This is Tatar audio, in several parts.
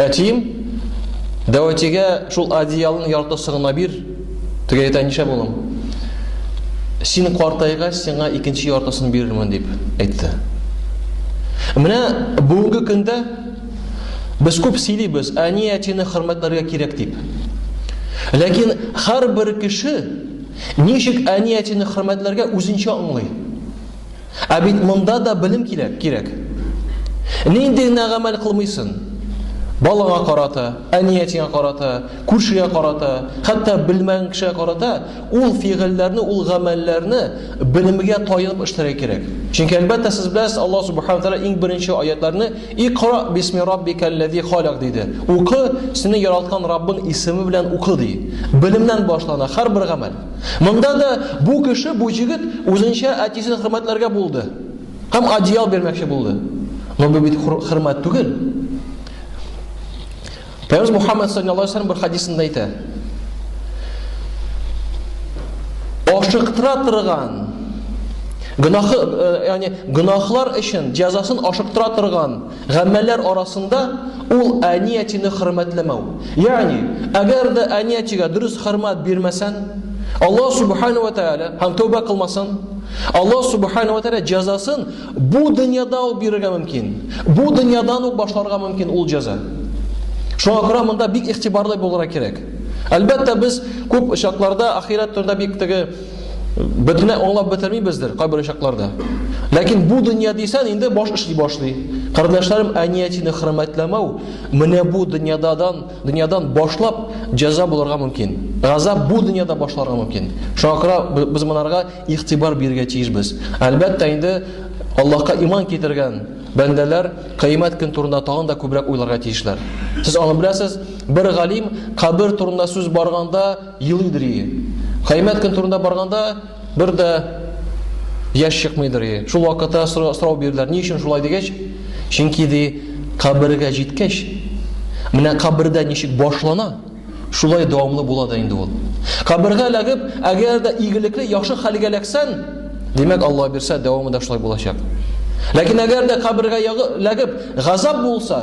Әтием, дәватигә шул одеялның яртысын гына бир. Тегә әйтә, ничә булым? Син картайгач, сиңа икенче яртысын бирермен дип әйтте. Менә бүгенге көндә без күп сөйлибез, әни әтине хөрмәтләргә кирәк дип. Ләкин һәрбер кеше ничек әни әтине хөрмәтләргә үзенчә аңлый. Ә бит монда да белем кирәк, кирәк. Нинди генә гамәл кылмыйсын. Балага карата, әниятеңә карата, күршегә карата, хәтта белмәгән кешегә карата ул фигыльләрне, ул гамәлләрне белемгә таянып эшләргә кирәк. Чөнки әлбәттә сез беләсез, Алла субхана тәгалә иң беренче аятларны Икра бисми раббикаллази халак диде. Укы, сине яраткан Раббың исеме белән укы ди. Белемнән башлана һәрбер гамәл. Монда да бу кеше, бу җегет үзенчә әтисен хөрмәтләргә булды. Һәм одеял бирмәкче булды. Но бу бит хөрмәт түгел. Пәйгамбер Мухаммад саллаллаһу алейһи ва бер хадисында әйтә. Ашыктыра торган гынахы, э, ягъни гынахлар өчен җәзасын ашыктыра торган Гамәлләр арасында ул әниятине хөрмәтләмәү. Ягъни, әгәр дә әниятигә дөрес хөрмәт бирмәсән, Аллаһ субхана ва тааля һәм тәүбә кылмасын, Аллаһ субхана ва тааля җәзасын бу дөньяда ук бирергә мөмкин. Бу дөньядан ук башларга мөмкин ул җәза. Шуңа күрә монда бик игътибарлы булырга кирәк. Әлбәттә, без күп очакларда ахирәт турында бик теге Бөтенләй аңлап бетермибездер кайбер чакларда. Ләкин бу дөнья дисән инде баш эшли башлый. Кардәшләрем, әниятине хөрмәтләмәү менә бу дөньядан, дөньядан башлап җәза булырга мөмкин. Газап бу дөньяда башларга мөмкин. Шуңа күрә без монарга игътибар бирергә тиешбез. Әлбәттә инде Аллаһка иман китергән бәндәләр кыямәт көн турында тагын да күбрәк уйларга тиешләр. Сез аны беләсез, бер галим кабер турында сүз барганда Елыйдыр ие. Кыямәт көн турында барганда бер дә яшь чыкмыйдыр ие. Шул вакытта сорау бирделәр, ни өчен шулай дигәч, чөнки ди, кабергә җиткәч, менә кабердә ничек башлана, шулай дәвамлы була да инде ул. Кабергә эләгеп, әгәр дә игелекле, яхшы хәлгә эләксән, димәк, Алла бирсә, дәвамы да шулай булачак. Ләкин әгәр дә кабергә эләгеп, газап булса,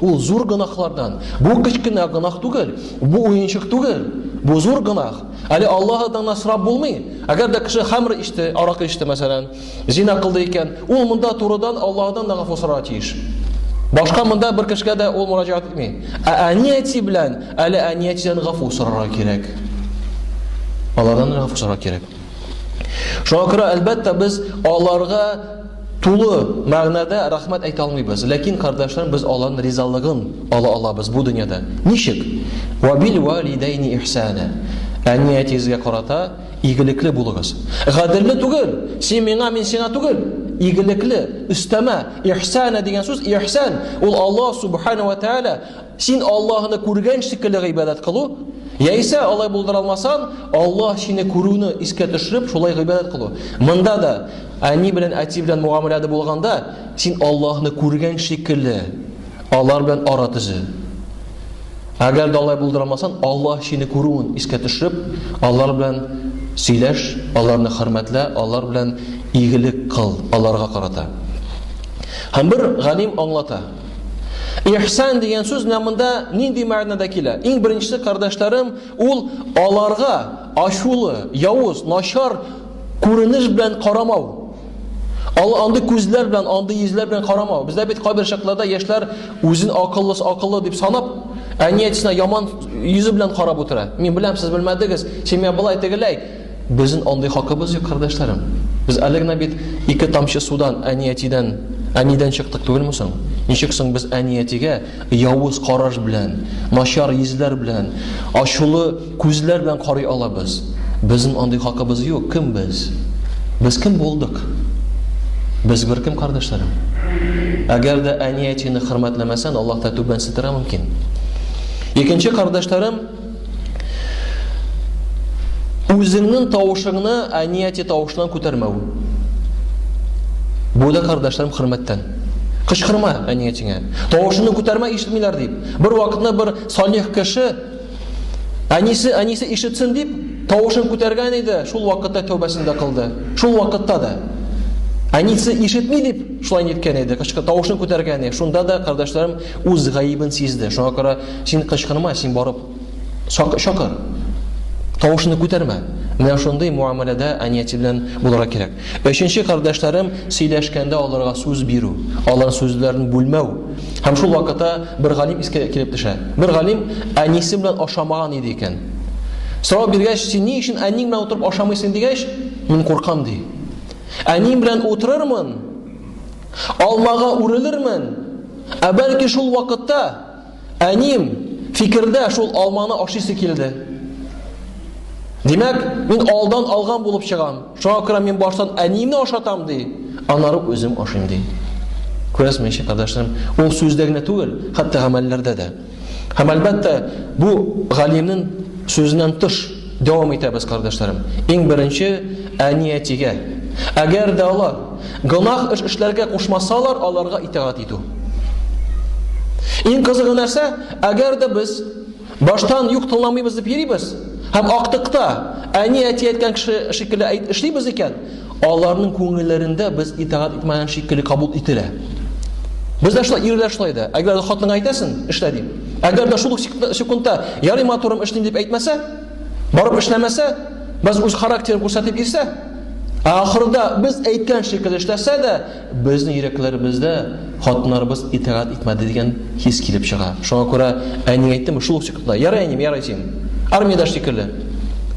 Ул зур гөнаһлардан. Бу кечкенә гөнаһ түгел, бу уенчык түгел, бу зур гөнаһ. Әле Аллаһ Аздан гына сорап булмый. Әгәр дә кеше хамр ичте, аракы ичте, мәсәлән, зина кылды икән, ул монда турыдан Аллаһ Аздан да гафу сорарга тиеш. Башка монда бер кешегә дә ул мөрәҗәгать итми. Ә әни-әти белән әле әни-әтидән гафу сорарга кирәк. Алардан гафу сорарга кирәк. Шуңа күрә, әлбәттә, без аларга тулы мәгънәдә рәхмәт әйтә алмыйбыз. Ләкин, кардәшләр, без аларның ризалыгын ала алабыз бу дөньяда. Ничек? Ва бил валидайни ихсана. Әни әтигезгә карата игелекле булыгыз. Гаделле түгел, син миңа, мин сиңа түгел. Игелекле, өстәмә, ихсана дигән сүз, ихсан, ул Аллаһ субхана ва тааля Син Аллаһны күргән шикелле гыйбадәт кылу, яисә алай булдыра алмасаң, Аллаһ сине күрүне искә төшереп, шулай гыйбадәт кылу. Монда да әни белән әти белән муамиләдә булганда, син Аллаһны күргән шикелле алар белән ара төзе. Әгәр дә алай булдыра алмасаң, Аллаһ сине күрүен искә төшереп, алар белән сөйләш, аларны хөрмәтлә, алар белән игелек кыл, аларга карата. Һәм бер галим аңлата. Ихсан дигән сүз менә монда нинди мәгънәдә килә? Иң беренче кардәшләрем, ул аларга ачулы, явыз, начар күренеш белән карамау. Ал андый күзләр белән, андый йөзләр белән карамау. Бездә бит кайбер чакларда яшьләр үзен акыллы, акыллы дип санап, әниятсенә яман йөзе белән карап утыра. Мин беләм, сез белмәдегез. Син миңа былай тегеләй, Безнен андый хакыбыз юк, кардәшләрем. Без әле генә бит ике тамчы судан әни-әтидән, әнидән чыктык түгелме соң? Ничек соң без әни-әтигә явыз караш белән, начар йөзләр белән, ачулы күзләр белән карый алабыз? Безнен андый хакыбыз юк. Кем без? Без кем булдык? Без беркем, кардәшләрем. Әгәр дә әни-әтине хөрмәтләмәсән, Аллаһ та түбәнсетергә мөмкин. Икенче, кардәшләрем, Үзеңнең тавышыңны әнияти тавышынан күтәрмәү. Бу да кардәшләрем хөрмәттән. Кычкырма әниятеңә. Тавышыңны күтәрмә ишетмиләр дип. Бер вакытны бер салих кеше әнисе әнисе ишетсен дип тавышын күтәргән иде, шул вакытта тәүбәсен дә кылды. Шул вакытта да әнисе ишетми дип шулай ниткән иде, кычкы тавышын күтәргән иде. Шунда да кардәшләрем үз гаебен сизде. Шуңа күрә Син кычкырма, син барып чакыр. Тавышны күтәрмә. Менә шундый муамәләдә әнияте белән булырга кирәк. Өченче кардәшләрем сөйләшкәндә аларга сүз бирү, алар сүзләрен бүлмәү. Һәм шул вакытта бер галим искә килеп төшә. Бер галим әнисе белән ашамаган иде икән. Сорау биргәч, син ни өчен әниң белән утырып ашамыйсың дигәч, мин куркам ди. Әнием белән утырырмын, алмага үрелермен, ә бәлки шул вакытта әнием фикердә шул алманы ашыйсы килде. Димәк, мин алдан алган булып чыгам. Шуңа күрә мин баштан әниемне ашатам ди, аннары үзем ашыйм ди. Күрәсезме, ничек кардәшләрем? Ул сүздә генә түгел, хәтта гамәлләрдә дә. Һәм әлбәттә, бу галимнең сүзеннән тыш Дәвам итәбез, кардәшләрем. Иң беренче әниятигә. Әгәр дә алар гынах эш эшләргә кушмасалар, аларга итагать итү. Иң кызыгы нәрсә? Әгәр дә без баштан юк тыңламыйбыз дип йөрибез һәм актыкта әни әти әйткән кеше шикелле әйт эшлибез икән, аларның күңелләрендә без итагать итмәгән шикелле кабул ителә. Без дә шулай, ирләр шулай да. Әгәр дә хатынга әйтәсен, эшлә дип. Әгәр дә шул секундта ярый матурым эшлим дип әйтмәсә, барып эшләмәсә, без үз характерын күрсәтеп ирсә, ә ахырда без әйткән шикелле эшләсә дә, Безнең йөрәкләребездә хатыннарыбыз итагать итмәде дигән хис килеп чыга. Шуңа күрә әни әйттем, шул ук секундта, ярый әним, ярый син. Армиядә шикелле.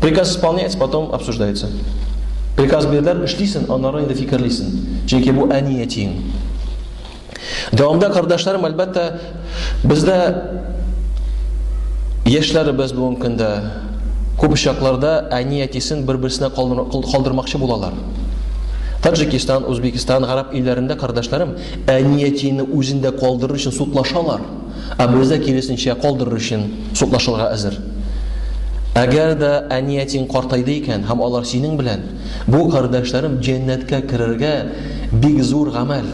Приказ исполняется, потом обсуждается. Приказ бирделәр, эшлисен, аннары инде фикерлисен. Чөнки бу әни әтиең. Дәвамда кардәшләрем, әлбәттә, Бездә яшьләребез бүгенге көндә күп очакларда әни-әтисен бер-берсенә калдырмакчы булалар. Таджикистан, Үзбекстан, гарәп илләрендә кардәшләрем әни-әтине үзендә калдырыр өчен судлашалар. Ә бездә киресенчә калдырыр өчен судлашырга әзер. Әгәр дә әни-әтиң картайды икән һәм алар синең белән, бу кардәшләрем җәннәткә керергә бик зур гамәл.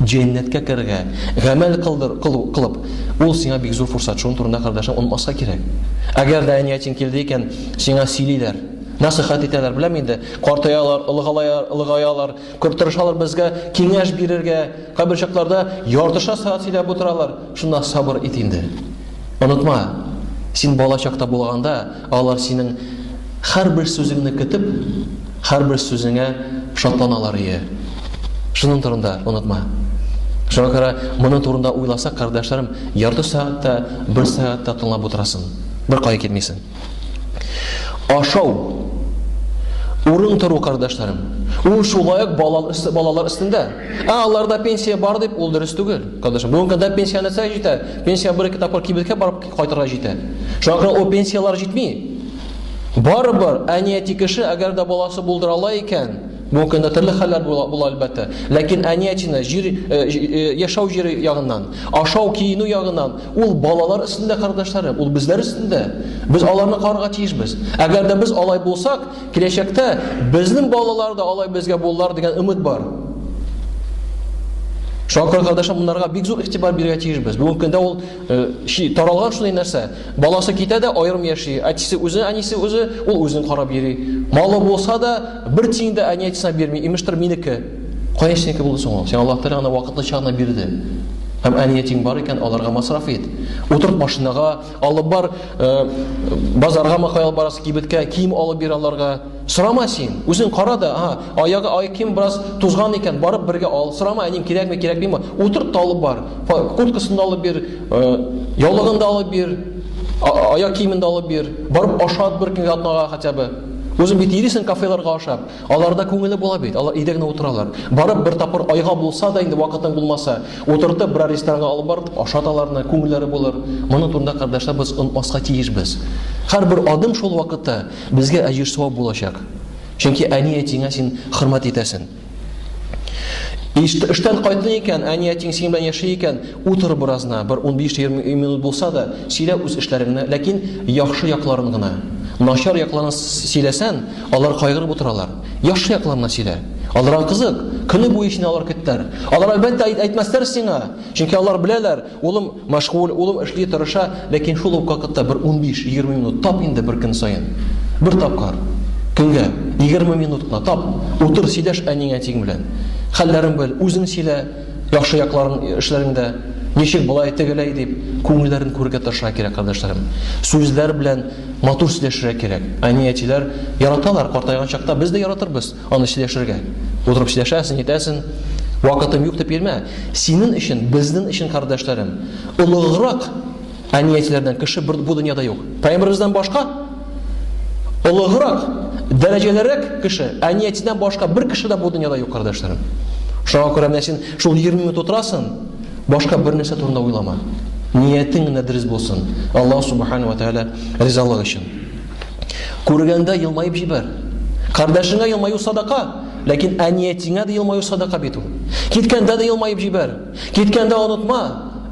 Җәннәткә керергә, гамәл кылдыр, кылу, кылып. Ул сиңа бик зур форсат, шуның турында, кардәшем, онытмаска кирәк. Әгәр дә әниятин килде икән, сиңа сөйлиләр, насыйхат итәләр, беләм инде, картаялар, олыгалаялар, олыгаялар, күп тырышалар безгә киңәш бирергә, кайбер чакларда яртыша сәгать сөйләп утыралар, шунда сабыр ит инде. Онытма, син бала чакта булганда, Алар синең һәрбер сүзеңне көтеп, һәрбер сүзеңә шатланалар ие. Шуның турында онытма. Шуңа күрә моны турында уйласа, кардәшләрем, ярты сәгать тә, бер сәгать тә тыңлап утырасың. Бер кая китмисең. Ашау. Урын тору, кардәшләрем. Ул шулай ук балалар өстендә. Ә аларда пенсия бар дип, ул дөрес түгел. Кардәшләр, бүгенге көндә пенсия нәрсә җитә? Пенсия бер-ике тапкыр кибеткә барып Кайтырга җитә. Шуңа күрә ул пенсияләр җитми. Барыбер, әнияти кеше, әгәр дә баласы булдыра ала икән, бүгенге көндә төрле хәлләр була, була әлбәттә, ләкин әниятины җир, э, э, яшәү җире ягыннан, ашау, киенү ягыннан, ул балалар өстендә, кардәшләрем, ул безләр өстендә. Без аларны карарга тиешбез. Әгәр дә без алай булсак, киләчәктә безнең балалар да алай безгә булалар дигән өмет бар. Шуңа күрә, кардәшләр, монарга бик зур игътибар бирергә тиешбез. Бүгенге көндә ул Э, чи таралган шундый нәрсә. Баласы китә дә аерым яши. Әтисе үзе, әнисе үзе, ул үзен карап йөри. Малы булса да, бер тиен дә әни әтисенә бирми. Имештер минеке. Кая синеке булды соң ул? Сиңа Аллаһ Тәгалә аны вакытлыча гына бирде. Һәм әни әтиң бар икән, аларга масраф ит. Утырт машинага, алып бар, э, базарга макай алып барасы кибеткә, кием алып бир аларга. Сорама син, үзең кара да, ага, аягы ай ким бераз тузган икән, барып бергә ал. Сорама, әним кирәкме, кирәкмиме? Утырт та алып бар. Курткасын да алып бир, э, яулыгын да алып бир, аяк киемен дә алып бир. Барып ашат бер көнгә атнага хотя бы. Үзең бит ирисең кафеларга ашап. Аларда күңеле була бит. Алар өйдә генә утыралар. Барып бер тапкыр айга булса да инде вакытың булмаса, утыртып бер ресторанга алып барып ашат аларны, күңелләре булыр. Моны турында кардәшләр без онмаска тиеш без. Һәрбер адым шул вакытта Безгә әҗер савап булачак. Чөнки әни-әтиңә син хөрмәт итәсен. Эштән кайтты икән, әни әтиң синең белән яши икән, утыр беразна, бер 15-20 минут булса да, сөйлә үз эшләреңне, ләкин яхшы якларын гына. Начар якларын сөйләсән, алар кайгырып утыралар. Яхшы якларын сөйлә. Аларга кызык, көне буе сине алар көттәр. Алар әлбәттә әйтмәсләр сиңа, чөнки алар беләләр, Улым мәшгуль, улым эшли, тырыша, ләкин шул ук вакытта бер унбиш, егерме минут тап инде бер көн саен. Бер тапкыр. Көнгә. Егерме минут кына тап. Утыр, сөйләш әниең, әтиең белән. Хәлләрен бел, үзең сөйлә, яхшы якларын эшләреңдә, ничек болай, тегеләй дип, күңелләрен күрергә тырышырга кирәк, кардәшләрем. Сүзләр белән матур сөйләшергә кирәк. Әни-әтиләр яраталар, картайган чакта без дә яратырбыз. Аны сөйләшергә. Утырып сөйләшәсен, әйтәсен. Вакытым юк дип йөрмә. Синең өчен, безнең өчен, кардәшләрем, олыграк әниятеләрдән кеше бер бу дөньяда юк. Пәйгамбәребездән башка олыграк, дәрәҗәлерәк кеше, әниятедән башка бер кеше дә бу дөньяда юк, кардәшләрем. Шуңа күрә менә син шул 20 минут утырасың, башка бер нәрсә турында уйлама. Ниятең генә дөрес булсын. Аллаһ субхана ва тааля ризалыгы өчен. Күргәндә елмаеп җибәр. Кардәшеңә елмаю садака, ләкин әниятеңә дә елмаю садака бит ул. Киткәндә дә елмаеп җибәр. Киткәндә онытма.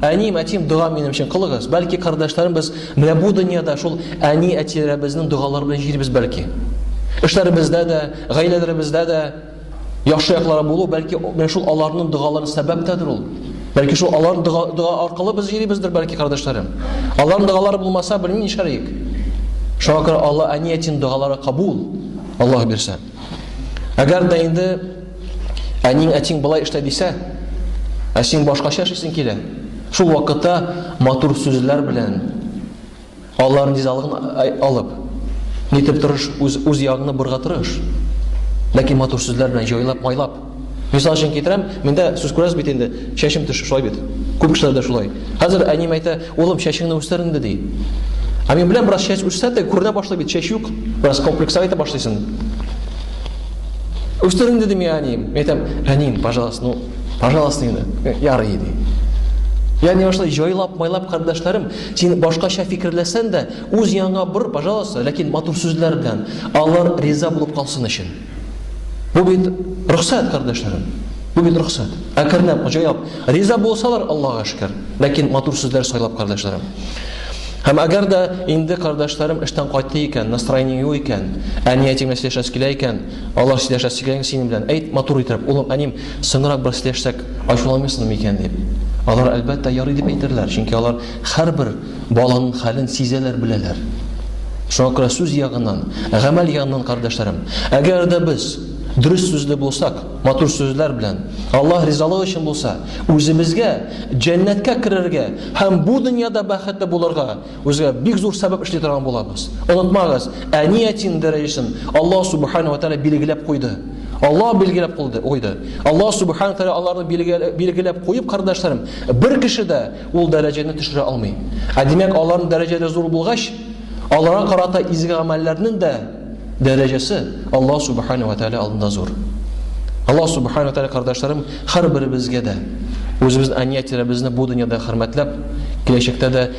Әним, әтим, дога минем өчен кылыгыз. Бәлки кардәшләрем без менә бу дөньяда шул әни-әтиләребезнең догалары белән җирбез бәлки. Эшләребездә дә, гаиләләребездә дә яхшы яклары булу, бәлки менә шул аларның догалары сәбәптәдер ул. Бәлки шул алар дога, дога аркылы без йөрибездер, бәлки кардәшләрем. Аларның догалары булмаса, белмим нишләриек. Шуңа күрә Алла әниятин догалары кабул. Аллаһ бирсә. Әгәр дә инде әниң әтиң былай эшлә дисә, ә син башкача эшлисең килә. Шул вакытта матур сүзләр белән, Алар низалыгын алып, нитеп тырыш, үз, үз ягыңны бурга тырыш. Ләкин матур сүзләр белән җайлап, майлап. Мисал өчен китерәм, миндә сүз күрәсез бит инде, чәчем төш, шулай бит. Күп кешеләр дә шулай. Хәзер әнием әйтә, улым, чәчеңне үстер инде, ди. Ә мин беләм, бераз чәч үссә дә, күренә башлый бит, чәч юк, бераз комплекса итә башлыйсын. Үстер инде, дим, әнием. Мин әйтәм, әнием, пожалуйста, ну, пожалуйста, инде, ярый, ди. Ягъни ошо җайлап, майлап кардәшләрем, Син башкача фикерләсән дә, үз яныңа бор, пожалуйста, ләкин матур сүзләр белән, алар риза булып калсын өчен. Бу бит рөхсәт, кардәшләрем. Бу бит рөхсәт. Әкренләп, җайлап. Риза булсалар, Аллага шөкер. Ләкин матур сүзләр сайлап, кардәшләрем. Һәм әгәр дә инде кардәшләрем эштән кайтты икән, настроение юк икән, әни әтиң белән сөйләшәсе килә икән, алар сөйләшәсе килә синең белән, әйт матур итеп, улым, әним, Соңрак бер сөйләшсәк, ачуланмыйсың микән дип. Алар әлбәттә ярый дип әйтерләр, чөнки алар һәрбер баланың хәлен сизәләр, беләләр. Шуңа күрә сүз ягыннан, гамәл ягыннан, кардәшләрем, әгәр дә без дөрес сүзле булсак, матур сүзләр белән, Аллаһ ризалыгы өчен булса, үзебезгә җәннәткә керергә һәм бу дөньяда бәхетле булырга Үзгә бик зур сәбәп эшли торган булабыз. Онытмагыз, әни әтин дәрәҗәсен Аллаһ субхана ва тәгалә билгеләп куйды. Аллаһ билгеләп куйды. Куйды. Аллаһ субхана ва тәгалә аларны билгеләп куеп, кардәшләрем, бер кеше дә ул дәрәҗәне төшерә алмый. Ә димәк, аларның дәрәҗәләре зур булгач, аларга карата изге гамәлләрнең дә дәрәҗәсе Аллаһ субхана ва тәгалә алдында зур. Аллаһ субхана ва тәгалә кардәшләрем, һәрберебезгә дә үзебез әни әтиләребезне бу дөньяда хөрмәтләп, киләчәктә дә